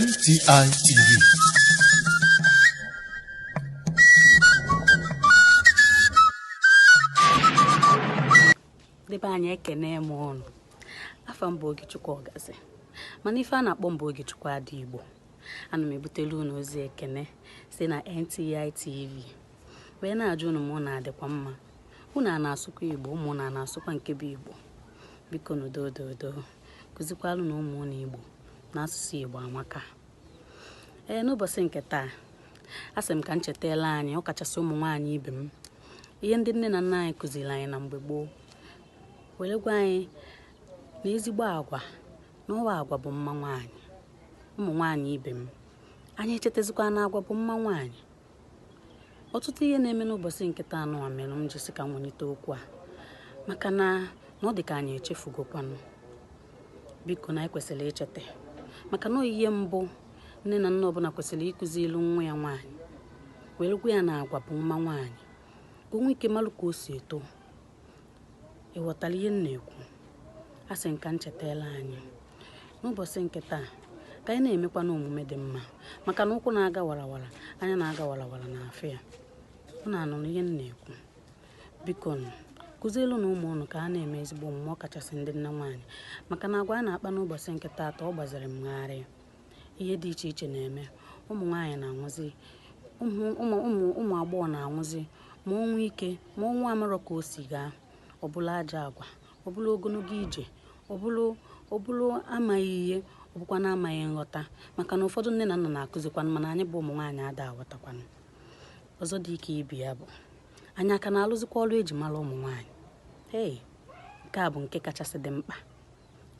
NTI TV. ndị be anyị ekene m unu afa m bụ Ogechukwu Ọgazi mana ife a na-akpọ m bụ Ogechukwu Adaigbo ana m ebutelu unu ozi ekene si na NTI TV wee na-ajụ unu ma unu adịkwa mma unu ana-asụkwa igbo ụmụ unu ana-asụkwa nke bụ igbo biko nụ doo doo kụzikwalụ nụ ụmụ unu igbo na asụsụ igbo amaka ee n'ụbọchị nke taa asị m ka m chetala anyị ọ kachasị ụmụ nwaanyị ibe m ihe ndị nne na nna anyị kụziri anyị na mgbe gboo were gwa anyị na ezigbo agwa na ọ bụ agwa bụ mma nwaanyị ụmụ nwaanyị ibe m anyị echetazikwa na agwa bụ mma nwaanyị ọtụtụ ihe na-eme n'ụbọchị nke taa n'ụwa mere m ji sị ka m welite okwu a maka na na ọ dị ka anyị echefugokwanụ biko na anyị kwesịrị icheta maka na ọ ihe mbụ nne na nna ọbụla kwesịrị ịkụziilu nwa ya nwaanyị were gwa ya na agwa bụ mma nwaanyị ka o nwee ike malụ ka o si eto ị ghọtara ihe m na-ekwu asị m ka m chetala anyị n'ụbọchị nke taa ka anyị na-emekwanụ omume dị mma maka na ụkwụ na-aga warawara anya na-aga warawara na-afụ ya unu anụrụ ihe m na-ekwu biko nụ kụzielu nụ ụmụ unu ka a na-eme ezigbo omume ọ kachasị ndị nne nwaanyị maka na agwa anyị na-akpa n'ụbọchị nke taata ọ gbaziri m gharịị ihe dị iche iche na-eme ụmụ nwaanyị na-anwụzi ụmụ agbọghọ na-anwụzi ma ọnwụ ike ma ọnwụ amarọ ka o si gaa ọ bụrụ ajọ agwa ọ bụrụ ogologo ije ọ bụrụ amaghị ihe ọ bụkwanụ amaghị nghọta maka na ụfọdụ nne na nna na-akụzikwanụ mana anyị bụ ụmụ nwaanyị ada aghọtakwanụ ọzọ dị ka ibe ya bụ anyị aka na-alụzikwa ọrụ eji mara ụmụ nwaanyị ee nke a bụ nke kachasị dị mkpa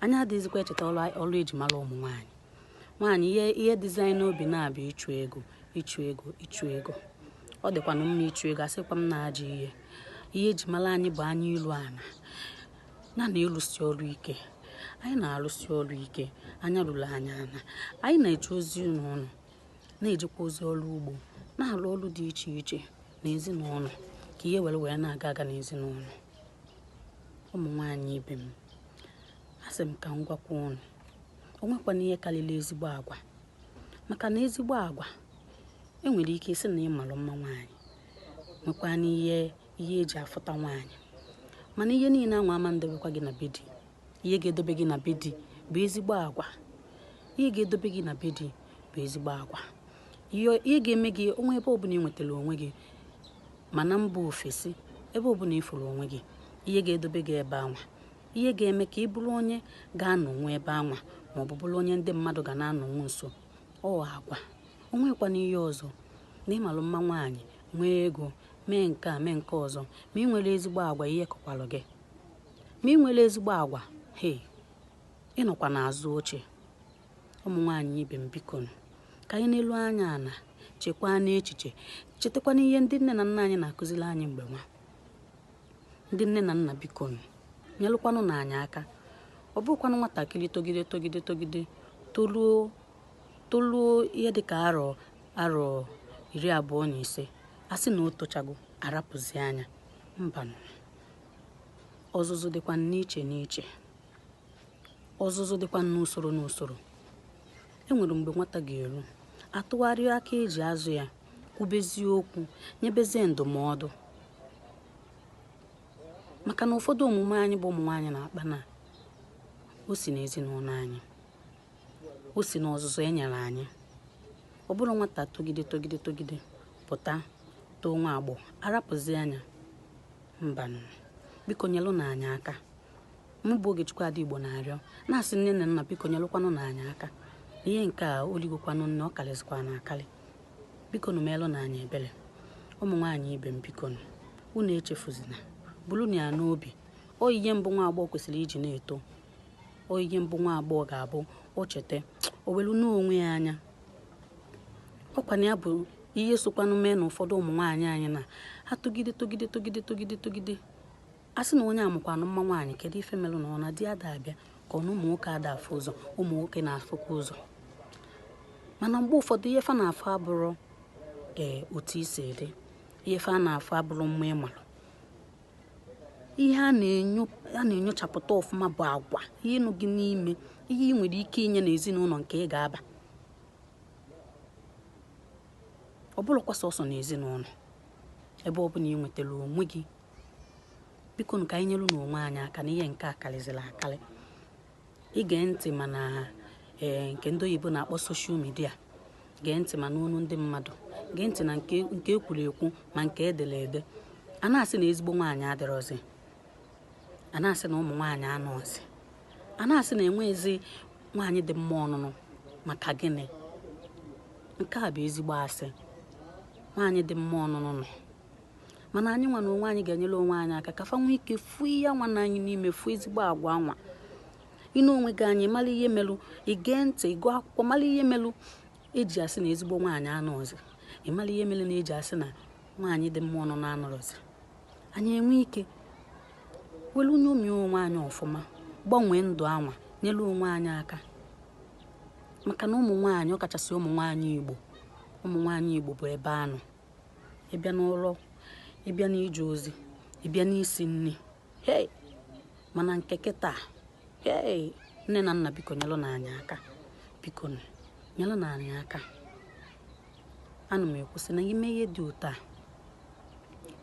anyị adịghịzikwa echeta ọrụ eji mara ụmụ nwaanyị nwaanyị ihe ihe dịzi anyị n'obi na-abụ ịchụ ego ịchụ ego ịchụ ego ọ dịkwanụ mma ịchụ ego asịkwa m na ajọ ihe ihe eji mara anyị bụ anya ilu ala na na ịlụsi ọrụ ike anyị na-alụsi ọrụ ike anya ruru anyị ana anyị na-eje ozi n'ụlọ na-ejekwa ozi ọrụ ugbo na-alụ ọrụ dị iche iche n'ezinụlọ ka ihe were wee na-aga aga n'ezinụlọ ụmụ nwaanyị ibe m asị m ka m gwakwa unu o nwekwanụ ihe karịrị ezigbo agwa maka na ezigbo agwa enwere ike ịsị na ị malụ mma nwaanyị nwekwanụ ihe ihe eji afụta nwaanyị mana ihe niile anwa ama ndebekwa gị na be di ihe ga-edobe gị na be di bụ ezigbo agwa ihe ga-edobe gị na be di bụ ezigbo agwa ihe ihe ga-eme gị o nwee ebe ọbụla ị nwetara onwe gị ma na mba ofesi ebe ọbụla ị fụrụ onwe gị ihe ga-edobe gị ebe anwa ihe ga-eme ka ị bụrụ onye ga-anọnwu ebe anwa ma ọ bụ bụrụ onye ndị mmadụ ga na-anọnwu nso ọ agwa o nwekwanụ ihe ọzọ na ị malụ mma nwaanyị nwee ego mee nke a mee nke ọzọ ma i nwerọ ezigbo agwa ihe kọkwalụ gị ma i nwerọ ezigbo agwa he ị nọkwa n'azụ oche ụmụ nwaanyị ibe m biko nụ, ka anyị nelu anya ana chekwaanụ echiche chetakwanụ ihe ndị nne na nna anyị na-akụziri anyị mgbe anwa ndị nne na nna biko nụ, nyelụkwanụnụ anyị aka ọ bụrọkwanụ nwatakịrị togide togide togide toluo toluo ihe dịka arọ arọ iri abụọ na ise a sị na o tochago a rapụzi anya mbanụ ọzụzụ dịkwa n'iche n'iche ọzụzụ dịkwa n'usoro n'usoro e nwere mgbe nwata ga-eru a tụgharịa aka e ji azụ ya kwubezie okwu nyebezie ndụmọdụ maka na ụfọdụ omume anyị bụ ụmụ nwaanyị na-akpa na o si n'ezinụlọ anyị o si n'ọzụzụ e nyere anyị ọ bụrọ nwata togide togide togide pụta too nwa agbọghọ a rapụzi anya mbanụ biko nyelụnụ anyị aka mụ bụ Ogechukwu Adaigbo na-arịọ na-asị nne na nna biko nyelụkwanụnụ anyị aka ihe nke a o ligokwanụ nne ọ karịzikwanụ akarị bikonu meelụnụ anyị ebere ụmụ nwaanyị ibe m bikonu unu echefuzina bulunu ya n'obi ọ ihe mbụ nwa agbọghọ kwesịrị iji na-eto ọ ihe mbụ nwa agbọghọ ga-abụ o cheta o welu n'onwe ya anya ọ kwanụ ya bụ ihe sokwanụ mee na ụfọdụ ụmụ nwaanyị anyị na ha togide togide togide togide togide a sị na onye a makwanụ mma nwaanyị kedu ife melụ na ọ na di ada abịa ka ọ na ụmụ nwoke ada afụ ụzọ ụmụ nwoke na-afụkwa ụzọ mana mgbe ụfọdụ ihe fa na-afụ abụrụ ee otu i si dị ihe fa na-afụ abụrụ mma ị malụ ihe a na-enyochapụta ọfụma bụ agwa ihe nọ gị n'ime ihe ị nwere ike inye n'ezinụlọ nke ị ga-aba ọ bụrọkwa sọsọ n'ezinụlọ ebe ọ bụla ị nwetara onwe gị biko ka anyị nyerenụ onwe anyị aka na ihe nke a karịzịrị akarị i gee ntị ma na ee nke ndị oyibo na-akpọ soshal midia gee ntị ma n'ọnụ ndị mmadụ gee ntị na nke e kwuru ekwu ma nke e dere ede a na-asị na ezigbo nwaanyị adịrọzi a na-asị na ụmụ nwaanyị anọzi a na-asị na enweghịzi nwaanyị dị mma ọnụnụ maka gịnị nke a bụ ezigbo asị nwaanyị dị mma ọnụnụ nọ mana anyị nwa na onwe anyị ga-enyere onwe anyị aka ka fa nwee ike fụ ihe nwa na anyị n'ime fụ ezigbo agwa nwa ịnụ onwe gị anyị mara ihe melụ igee ntị ịgụ akwụkwọ mara ihe melụ eji asị na ezigbo nwaanyị anọzi ịmara ihe melụ na eji asị na nwaanyị dị mma ọnụnụ anọrọzi anyị enwe ike welu nyomi onwe anyị ọfụma gbanwee ndụ anwa nyere onwe anyị aka maka na ụmụ nwaanyị ọkachasị ụmụ nwaanyị igbo ụmụ nwaanyị igbo bụ ebe anọ ịbịa n'ụlọ ịbịa n'ije ozi ịbịa n'isi nri hei mana nke kịta hei nne na nna biko nyelụnụ anyị aka biko nyelụnụ anyị aka ana m ekwu sị na ime ihe dị otu a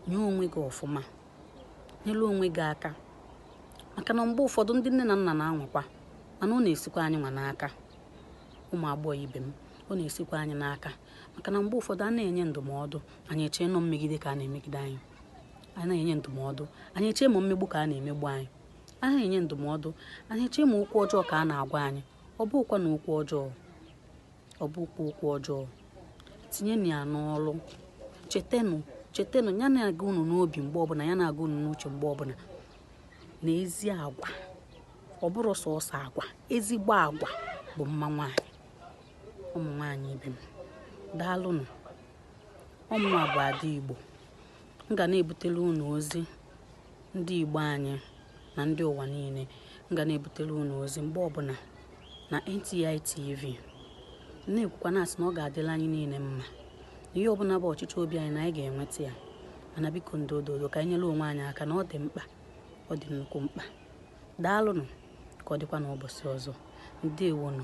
nye onwe gị ọfụma nyelụ onwe gị aka maka na mgbe ụfọdụ ndị nne na nna na-anwakwa mana ọ na-esikwa anyị nwa n'aka ụmụ agbọghọ ibe m ọ na-esikwa anyị n'aka maka na mgbe ụfọdụ a na-enye ndụmọdụ anyị echee na ọ mmegide ka a na-emegide anyị a na-enye ndụmọdụ anyị echee ma mmegbu ka a na-emegbu anyị a na-enye ndụmọdụ anyị echee ma okwu ọjọọ ka a na-agwa anyị ọ bụkwa na okwu ọjọọ ọ bụkwa okwu ọjọọ tinyenụ ya n'ọrụ chetenụ chetenụ ya na-aga unu n'obi mgbe ọbụla ya na-aga unu n'uche mgbe ọbụla na ezi agwa ọ bụrọ sọsọ agwa ezigbo agwa bụ mma nwaanyị ụmụ nwaanyị ibe m daalụnụ ọ mụwa bụ ada igbo m ga na-ebutelu unu ozi ndị igbo anyị na ndị ụwa niile m ga na-ebutelu unu ozi mgbe ọbụla na NTI TV na-ekwukwa na-asị na ọ ga-adịlị anyị niile mma ihe ọbụla bụ ọchịchọ obi anyị na anyị ga-enweta ya mana biko ndị ododo ka anyị nyere onwe anyị aka na ọ dị mkpa ọ dị nnukwu mkpa daalụnụ ka ọ dịkwa n'ụbọchị ọzọ ndewonụ